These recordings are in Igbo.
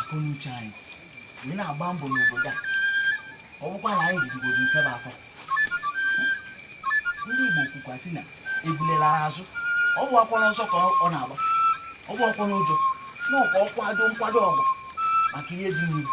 akọnuche anyị wee na-agba mbọ n'obodo a ọ bụkwa na anyị jidigoro nke bụ afọ ndị Igbo kwukwa sị na ebule laa azụ ọ bụghịkwa n'ọsọ ka ọ na-agba ọ bụghịkwa n'ụjọ na ọ ka akwado nkwado ọgụ maka ihe dị n'ihu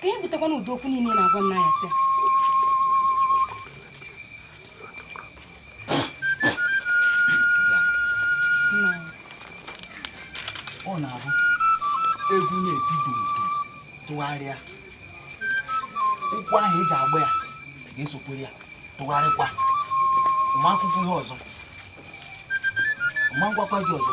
ka e butekwana ụdị okwu niile na-agwa nna ya sị ọ na-abụ egwu na-etibu tụgharịa ụkwụ ahụ e ji agba ya ga-esokwere ya tụgharịkwa ma akwụkwọ ihe ọzọ ma ngwakwa gị ọzọ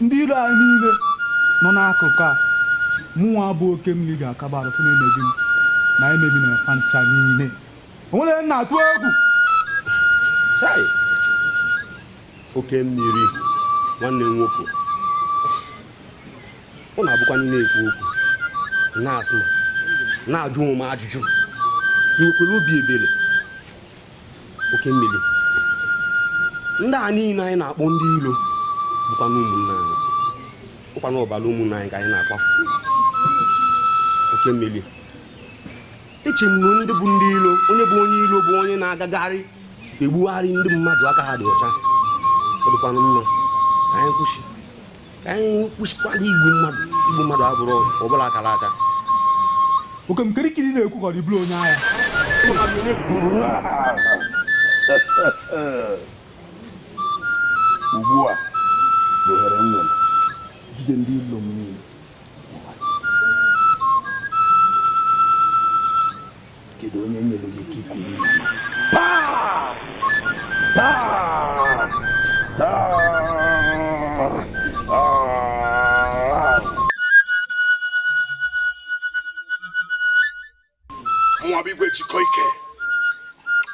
Ndị ilo anyị niile nọ n'akụkụ a, mụnwa bụ oke mmiri ga-akaba arụ fụ na emebi m na emebi na fa ncha niile. O nwere ihe m na-atụ egwu. Chai! Oke mmiri, nwanne m nwoke. Ọ na-abụkwanụ ị na-ekwu okwu, na-asụ, na-ajụ onwe m ajụjụ. I nwekwara obi ebere. oke mmiri ndị a niile anyị na-akpọ ndị ilo bụkwanụ ụmụnna anyị bụkwanụ ọbara ụmụnna anyị ka anyị na-akwafu oke mmiri eche m na ndị bụ ndị ilo onye bụ onye ilo bụ onye na-agagharị egbugharị ndị mmadụ aka ha dị ọcha ọ dịkwanụ mma ka anyị kwụsị ka anyị kwụsịkwara igbu mmadụ igbu mmadụ abụrọ ọbụla akara aka oke m kirikiri na-ekwu ka ọ dịbụrụ onye agha ugbu a bụ ohere m nwere jide ndị ilo m niile Kedu onye nyere gị ike ikwu Mụwa bụ igwe jikọ ike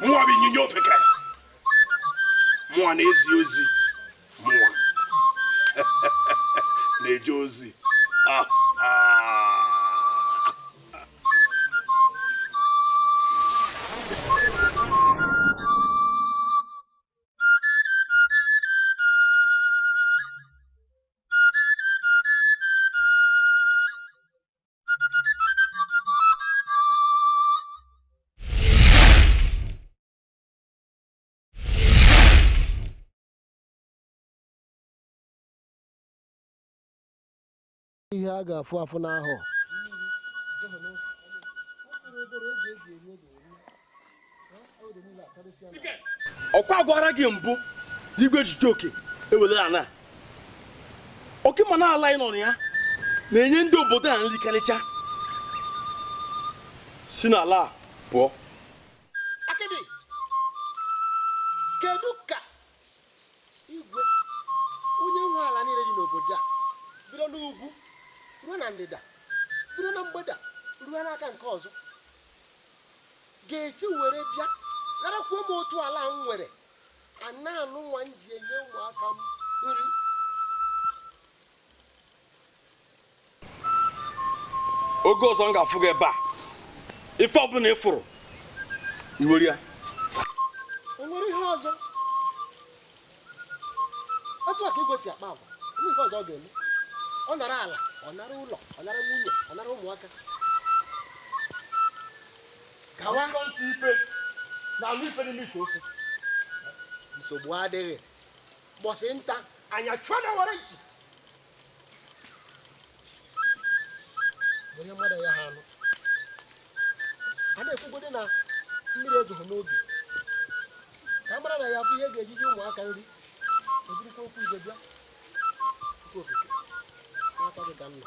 mụwa bụ ịnyịnya ofeke mụwa na-ezi ozi mụwa na-eje ozi ah, ah. ihe a ga-afụ afụ n'ahụ ọkwa agwara gị mbụ n'igwe echiche oke ewere ala oke ma na ala ị nọ na ya na-enye ndị obodo a nri karịcha si n'ala pụọ akịdị kedu ka igwe onye nwe ala niile dị n'obodo a bido n'ugwu ruo na ndịda bido na mgbeda ruo n'aka nke ọzọ ga-esi were bịa narakwuo m otu ala m nwere ana nụnwa m ji enye ụmụaka m nri oge ọzọ m ga-afụ gị ebe a ife ọbụla ị fụrụ i were ya enwere ihe ọzọ otu a ka igwe si akpa agwa ihe ọzọ ọ ga-eme ọ nara ala ọ nara ụlọ ọ nara nwunye ọ nara ụmụaka gawa ntị ife na anụ ife n'ime ite ofe nsogbu adịghị mbọsị nta anyị achụọ n'owere nchi onye mmadụ ya ha anụ a na-ekwugodi na mmiri ezoghị n'ubi ka a mara na ya bụ ihe ga-eji nye ụmụaka nri ejirikwa okwu ibe bịa nke okike n'aka gị ka m nọ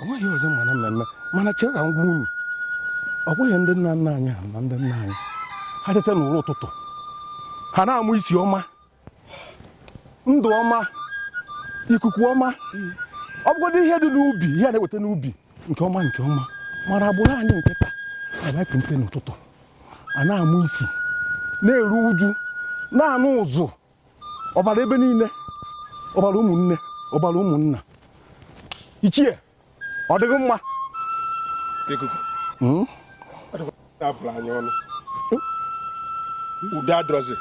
o nweghị ọzọ mana mmemme mana chee ka m gwa unu ọ bụghị ndị nna nna anyị ha na ndị nna anyị ha teta n'ụra ụtụtụ ha na-anụ isi ọma ndụ ọma ikuku ọma ọ bụgodị ihe dị n'ubi ihe a na-eweta n'ubi nke ọma nke ọma mana agbụrụ anyị nke taa e kunite n'ụtụtụ a na-anụ isi na-eru uju na-anụ ụzụ ọbara ebe niile ọbara ụmụnne ọbara ụmụnna ichie ọ dịghị mma hmm? a bụrụ anyị ọnụ udo adịrọzi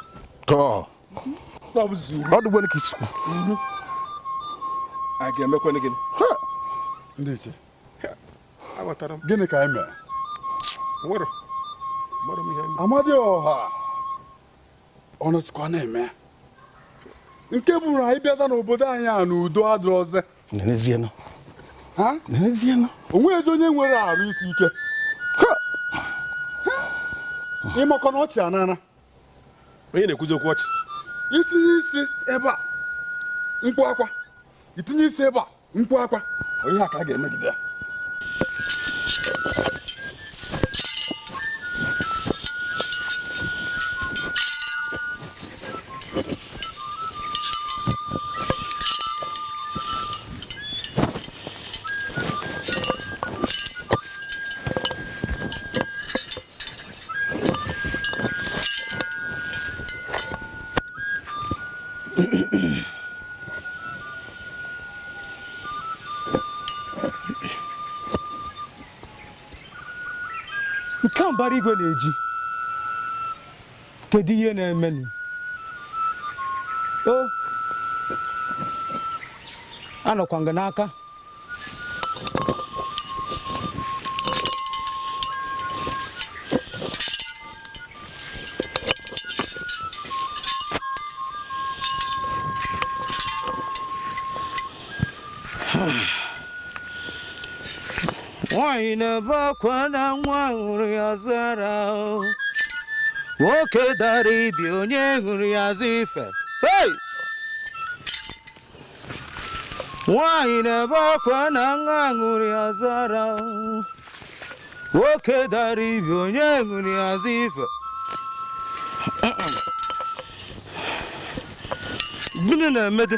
ọ dịgwere ka i si kwuo a ga-emekwanụ gịnị ndị ichie gịnị ka anyị mere amadịọha ọ nọzikwa na-eme ya nke bụrụ anyị bịaza n'obodo anyị a na udo adịrọzi N'ezienụ. ha N'ezienụ. o nweghịzi onye nwere arụ isi ike Ha! Ha! ịmakọ na ọchị anana onye na-ekwuzi okwu ọchị i tinye isi ebe a mkpu akwa i tinye isi ebe a nkwa akwa onye a ka a ga-emegide ya nke a mbara igwe na-eji kedu ihe na-emenụ o anọkwa nga n'aka nwanyị na-ebe akwa na nwa ṅụrụ ya zara nwoke dara ibi onye ṅụrụ ya zụ ife nwanyị na-ebe akwa na nwa ṅụrụ ya zara nwoke dara ibi onye ṅụrụ ya zụ ife gịnị na-emede